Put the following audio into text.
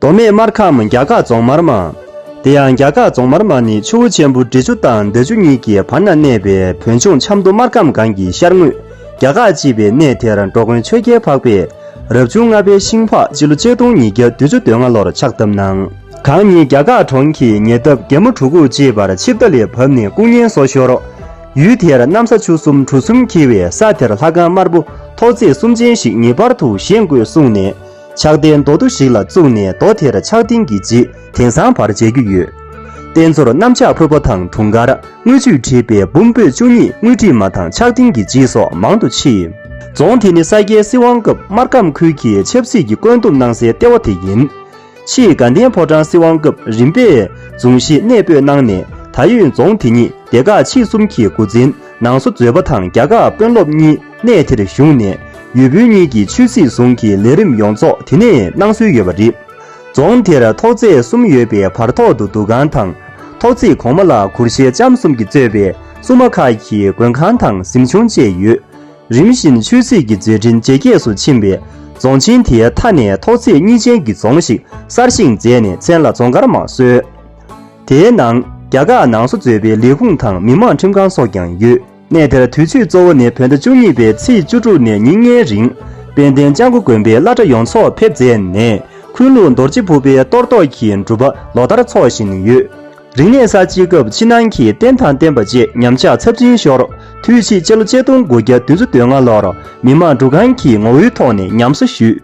མདོ་སྨད་སྨར་ཁམས་རྒྱ་སྐག་རྫོང་མར་མ། དེ་ཡང་རྒྱ་སྐག་རྫོང་མར་མ་ནི་ཆུ་བོ་ཆེན་པོ་འབྲི་ཆུ་དང་མདའ་ཆུ་གཉིས་ཀྱི་བར་ན་གནས་པའི་བོད་ལྗོངས་ཆབ་མདོ་སྨར་ཁམས་སྒང་གི་ཤར་ངོས་རྒྱ་སྐག་ཅེས་པའི་གནས་དེར་འགྲོ་མགོན་ཆོས་རྒྱལ་འཕགས་པས་རབ་བྱུང་ལྔ་པའི་ཤིང་ཕག་སྤྱི་ལོ་ཆིག་སྟོང་ཉིས་བརྒྱ་དུས་བཅུ་དོན་ལྔ་ལོར་ཕྱག་བཏབ་གནང། གང་ཉིད་རྒྱ་སྐག་གྲོང་གི་ཉེ་འདབས་རྒྱལ་མོ་གྲུ་གུ་ཅེས་པར་ཆིབས་རྟ་ལས་བབས་ནས་སྐུ་བརྙན་སོགས་ཤོར། ཡུལ་དེར་གནམ་ས་ཆུ་གསུམ་གྲུ་གསུམ་འཁྱིལ་བའི་ས་དེར་ལྷ་ཁང་དམར་པོ་ཐོག་བརྩེགས་གསུམ་ཅན་ཞིག་ངེས་པར་དུ་བཞེངས་དགོས་གསུངས་ནས། ཕྱག་རྟེན་མདོ་བསྡུ་ཞིག་ལ་བཙུགས་ནས་མདོ་དེར་ཕྱག་རྟེན་གྱི་རྗེས་དེང་སང་བར་མཇལ་རྒྱུ་ཡོད། རྟེན་གཙོར་གནམ་ལྕགས་ཕུར་པ་དང་དུང་དཀར་དངུལ་ཆུས་བྲིས་པའི་བུམ་སྤོས་བཅུ་གཉིས་དངུལ་བྲིས་མ་དང་ཕྱག་རྟེན་གྱི་རྗེས་སོགས་མང་དུ་མཆིས། རྫོང་དེ་ནི་ས་སྐྱའི་སྲིད་དབང་སྐབས་སྨར་ཁམས་ཁུལ་གྱི་ཆབ་སྲིད་ཀྱི་བཀོད་འདོམས་གནང་སའི་ལྟེ་བ་དེ་ཡིན། ཕྱིས་དགའ་ལྡན་ཕོ་བྲང་སྲིད་དབང་སྐབས་རིམ་པས་རྫོང་གཞིས་གནས་སྤོས་གནང་ནས་ད་ཡོད་རྫོང་དེ་ཉིད་སྡེ་ཁག་ཆིག་གསུམ་གྱི་མགོ་འཛིན་ནང་སོ་མཛོད་པ་དང་རྒྱ་གར་དཔོན་སློབ་གཉིས། གནས་དེར་བཞུགས་ནས་ཡུལ་བོད་གཉིས་ཀྱི་ཆོས་སྲིད་ཟུང་གི་ལས་རིམ་ཡོངས་རྫོགས་དེ་ནས་གནང་སྲོལ་ཡོད་པ་རེད། རྫོང་དེར་ཐོག་རྩེག་གསུམ་ཡོད་པའི་བར་ཐོག་ཏུ་འདུ་ཁང་དང། ཐོག་རྩེག་གོང་མ་ལ་གུར་ཞལ་ལྕམ་གསུམ་གྱིས་གཙོས་པའི་སྲུང་མ་ཁག་གི་མགོན་ཁང་དང་གཟིམ་ཆུང་བཅས་ཡོད། རིམ་བཞིན་ཆོས་སྲིད་ཀྱི་མཛད་འཕྲིན་ཇེ་རྒྱས་སུ་ཕྱིན་པས་རྫོང་ཆེན་དེའི་མཐའ་ནས་ཐོག་རྩེག་གཉིས་ཅན་གྱི་རྫོང་ཞིག་གསར་བཞེངས་མཛད་ནས་མཚན་ལ་རྫོང་མཁར་མང་གསོལ། དེའི་ནང་རྒྱ་གར་ནང་སོ་བཟོས་པའི་ལས་ཁུངས་དང་མི་མང་ཁྲིམས་ཁང་སོགས་ཀྱང་ཡོད། གནས་དེར་དུས་མཆོད་གཙོ་བོ་ནི་བོད་ཟླ་བཅུ་གཉིས་པའི་ཚེས་བཅུ་དྲུག་ནས་ཉིན་ལྔའི་རིང། དཔལ་ལྡན་ལྕགས་མགོ་དགོན་པའི་བླ་གྲྭ་ཡོངས་ཚོགས་ཕེབས་མཛད་ནས་འཁོན་ལུགས་མདོར་བྱེད་ཕུར་པའི་གཏོར་བཟློག་གི་སྒྲུབ་པ་ལོ་ལྟར་འཚོགས་བཞིན་ཡོད། རིག་གནས་གསར་བརྗེའི་སྐབས་ཕྱི་ནང་གི་རྟེན་དང་བརྟེན་པ་བཅས་ཉམས་ཆག་ཚབས་ཆེན་ཤོར། དུས་ཕྱིས་སྤྱི་ལོ་ཆིག་སྟོང་དགུ་བརྒྱ་བདུན་ཅུ་དོན་ལྔ་ལོར་མི་དམངས་འདུ་ཁང་གི་ངོ་བོའི་ཐོག་ནས་ཉམས་གསོ་ཞུས།